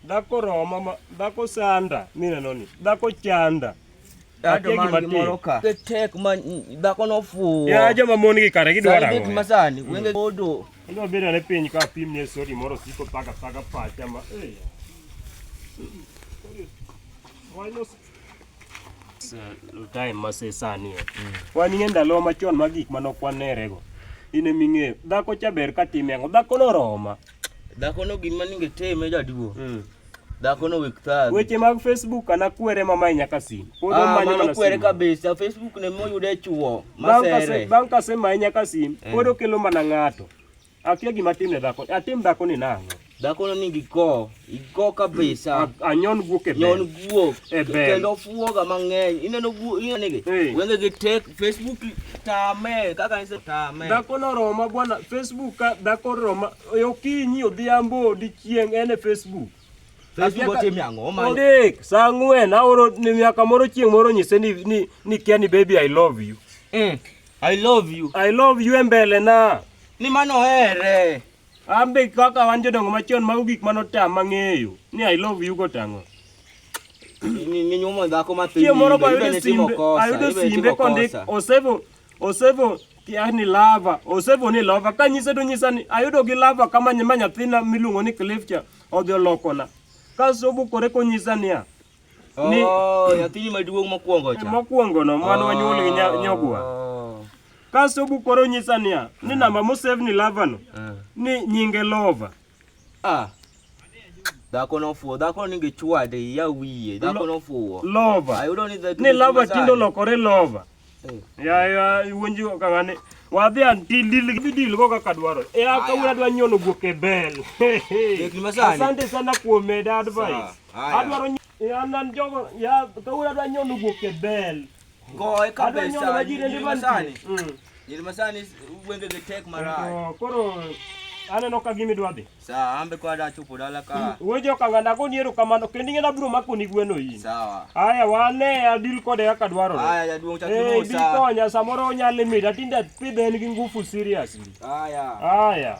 dhako roma dhako sanda mineno ni dhako chanda tek ma dhako nofuwo ya joma mon gi kare gidwara go masani mm. wenge odo ndo bira ne piny ka pim ne sori moro siko paka paka pacha ma eh time masesani mm. wan ing'e ndalo machon ma gik mane ok wanerego in ema ing'eyo dhako cha ber ka time ang'o dhako noroma dhako no gin maninge time jaduo mm. dhako no wik thagi weche mag facebook ana kwere mamae nyaka sim ah, mano kwere kabisa facebook ne moyude chuo masere bang' kasemaye nyaka sim eh. pod okelo mana ng'ato Akia gima timne dhako. Atim dhako ni nang'o? Dhako no nigi ko, iko kabisa. Anyon guok e Nyon guok. E bel. Kendo fuoga mang'eny. Ineno guok, ineno gi. Wenge gi tek Facebook tame, kaka nise tame. Dhako no roma bwana, Facebook ka dhako roma. Okinyi odhiambo dichieng' en e Facebook. Facebook otim yango ma. Dik, sa ng'wen aoro ni miaka moro chieng' moro nyise ni ni ni Kenny baby I love you. Mm. I love you. I love you e mbele na. Ni mano here. Ambe kaka wan jodongo machon mago gik mano tam mang'eyo. Ni I love you go tango. Ni ni nyumo dhako ma piny. Moro kwa yudo simbe. Ayudo simbe kondik osevo osevo yani lava osevo ni lava ka nyise to nyisa ni ayudo gi lava kama nyima nyathina miluongo ni Cliff cha odhi olokona. Kaso bukore konyisa niya. ni oh, nyathini maduong' mokwongo cha mokwongo no mane wanyuol gi oh. nyogwa kasto bukoro nyisa niya ni namba mosevni lavano eh. ni nyinge lova ah. dhako nofuwo dhako ninge chwade ya wiye dhako nofuwo lova ayudo ni ni lava tindo lokore lova ya ya iwonji ka ng'ani wadhi an ti dil gi dil go kaka dwaro e a ka wura dwa nyono guok e bel asante sana kuom meda advice adwaro an an jogo ya ka wura dwa nyono guok e bel goe kabisa masani masani wenge gi tek marach koro aneno ka gimi dwa dhi Sawa, ambe kwa dacho podala ka. Wewe joka nganda ko niero kamano kendi ngenda bro mako ni gweno yi. Sawa. Aya wane ya deal kode ya kadwaro. Aya ya duong chakimo eh, sa. Eh biko nya samoro onya limit atinda pidhe en gi ngufu seriously. Aya. Aya.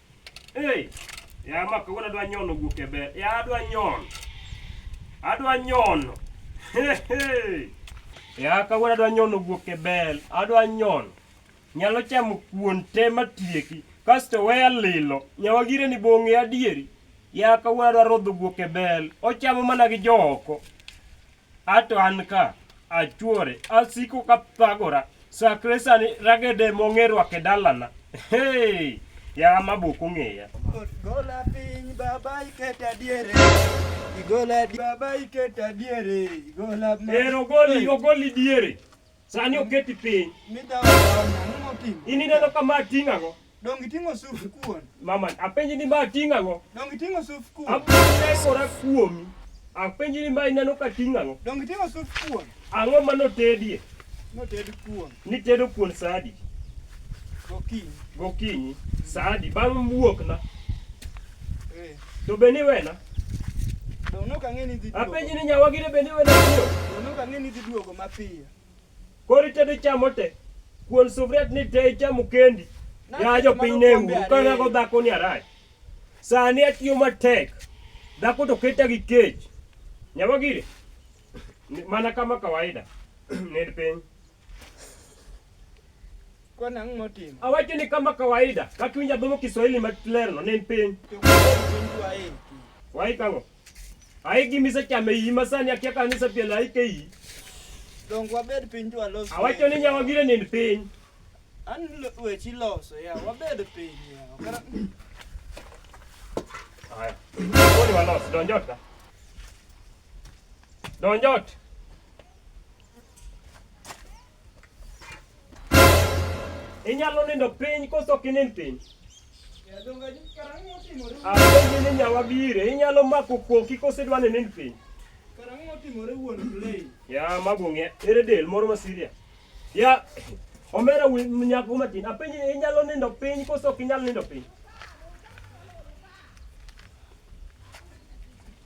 Hey, ya ma kawuono adwa nyono guok e ber. Ya adwa nyono. Adwa nyono. Hey, hey. Ya kawuono adwa nyono guok e bel. Adwa nyono. Nyalo chamo kuon te matieki. Kasto weya lilo. Nyawagire ni bong'e adieri. Ya kawuono adwa rodho guok e bel. Ochamo mana gi jooko. Ato an ka achuore asiko ka thagora sakre sani ragede mong'e rwake dalana hey, ya mabuk ong'eya gola piny baba iketa diere igola baba iketa diere igola ero goli ogoli diere Sani oketi piny. Midawa ang'o motimo? In ineno ka ma ting'o ang'o? Dongi ting'o suf kuon. Mama, apenji ni ma ting'o ang'o? Dongi ting'o suf kuon. Apuonjora kuomi. Apenji ni ma ineno ka ting'o ang'o? Dongi ting'o suf kuon. Ang'o ma notedie? Noted kuon. Nitedo kuon saa adi? Gokinyi. Gokinyi. Saa adi? Bang' wuokna. To be ni wena? Donok ang'e ni dhi duogo. Apenji ni nyawa gire be ni wena biro? Donok ang'e ni dhi duogo mapiyo. Koro itedo chamo te. Kuon sufriat ni te ichamo kendi. Ya jo piny ne uru. Kana go dhako ni arach. Sani atiyo matek. Dhako to keta gi kech. Nyawa gire. Mana kama kawaida. Ned piny. Kwa nang' motimo? Awacho ni kama kawaida, kaka iwinjo adhomo Kiswahili ma lerno ne en piny. Wai kang'o? Ai gimise chame iyi ma sani akia ka nise piel ai ke iyi. Dongo wabed piny to alos. Awacho ni nyawa gire ni piny. An wechi loso ya, wabed piny ya. Kara... Aya. Koni walos, donjot ka. Donjot. Inyalo nindo piny koso ok inind piny? Apenji ni nyawa bire, inyalo mako koki koso idwa ni nind piny? Ya mago ng'e, ere del moro ma Syria? Ya omera wi nyako matin, apenji ni inyalo nindo piny koso ok inyal nindo piny?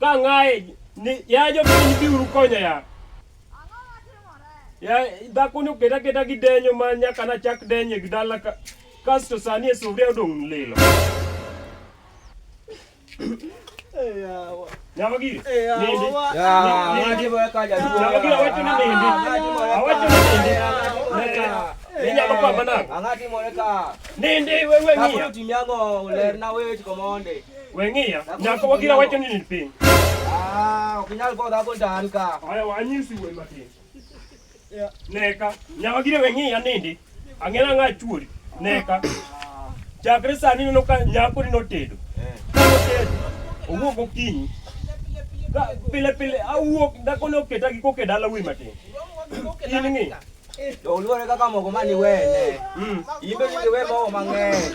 Ka ng'aye ni ya jo piny biuru konya ya. Ya dhako ni oketa keta gi denyo ma nyaka na chak denye gi dala ka kasto sani e sufria odong' lilo. Nyama giri. Nindi. Nindi. Nyama giri awacho ni nindi. Awacho ni nindi. Ni nyama kwa manang. Angati moreka. Nindi wewe Kapo ng'iya. timi ang'o lerna weche komonde. Weng'iya, nyako wagira wacho ni nipiny. Ah, ok inyal go dhako ndani ka. Aya wanyisi wuoyi matin. Neka, nyaka gire weng'iya nindi. Ang'ela ng'a chuori. Neka. Chakre sani neno ka nyako ni notedo. Ka notedo, owuok okinyi. Ka pile pile awuok dhako ne oketa gi koke dala wuoyi matin. In ng'i, To oluore kaka mogo mani wene. mm. Imbe ni we mogo mang'eny.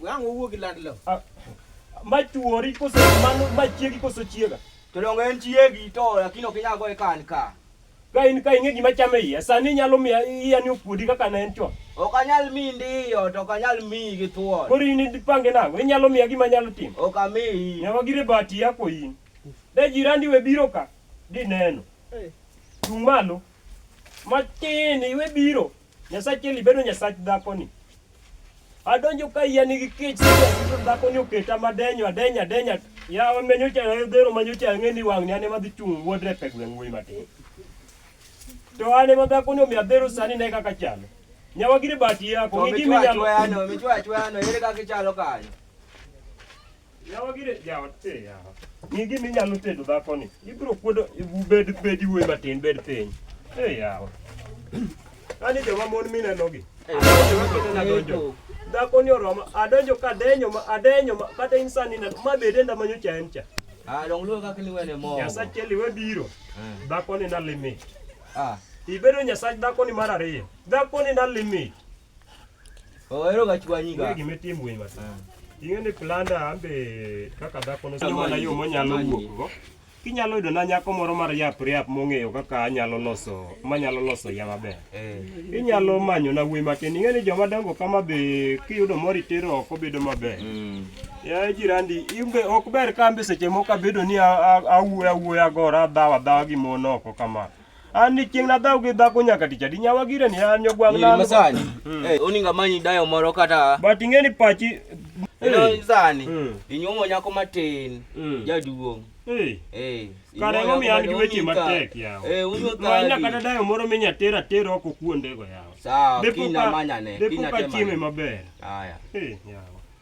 Wang' owuo gi land lo. Ah, ma chuori koso mano ma chiegi koso chiega. Jodongo en chiegi to lakini ok inyal goye ka an ka. Ka in ka ing'e gima chame iya, sani inyalo miya iya ni okuodi kaka ne en chon. Ok anyal miyi ndiyo to ok anyal miyi gi thuon. Koro in ipange nang'o? Inyalo miya gima anyalo timo? Ok amiyi. Nyawa gire bati yako in. De jirandi we biro ka, dineno. Chung' malo. Matin iwe biro. Nyasach Eli bedo nyasach dhako ni. Adonjo ka iya nigi kech sasa dhako ni oketa madenyo adenya adenya. Ya wamenyo cha dhero manyo cha ng'eni wang'ni ane madhi chung' wuodre pe gweng' wuoyi matin. To ane ma dhako ni omiya dhero sani ne kaka chalo. Nyawagire bati yako. Ng'igi minyalo. Michwa chwa no, michwa chwa no, ere kaka ichalo kanyo. Yawa gire jawa te yawa. Ni gimi nyalo tedo dhako ni. Ibro kuodo bed bed iwe matin bed piny. Eh yawa. Ani joma mon mineno gi. Joma kete na donjo. Dhako ni oroma adonjo ka denyo ma adenyo ma kata insani na ma bede ndamanyo cha en cha. Ah, long luo kaka liwene mo. Nyasa cheli we biro. Dhako ni na limit. Ah. Ibedo nyasach dhako ni mar ariyo. Dhako ni na limit. Oero gachwanyiga. Wegi metim winy mata. Ing'e ni planda ambe kaka dhako no sama na yo monyalo wuokgo. Kinyalo yudo na nyako moro mar yap riap mong'eyo kaka anyalo loso manyalo loso ya maber. Eh. Inyalo manyo na wuoyi matin. Ing'e ni joma dongo kama be kiyudo moro itero oko bedo maber. Mm. Ya jirandi, imbe ok ber kambe seche moko abedo ni awuoya awuoya gora dhawa dhawa gi mon oko kama. an ni chieng' nadhaw gi dhako nyaka tich adi nyawa gire ni an nyogwang' nalo masani hmm. eh, oninga manyi dayo moro kata but ing'e ni pachi eh. sani hmm. inyuomo nyako matin hmm. jaduong' eh. kare momiyo an gi weche matek yawomanya kata dayo moro minya ter ater oko kuondego yawa depoka chieme maber yawa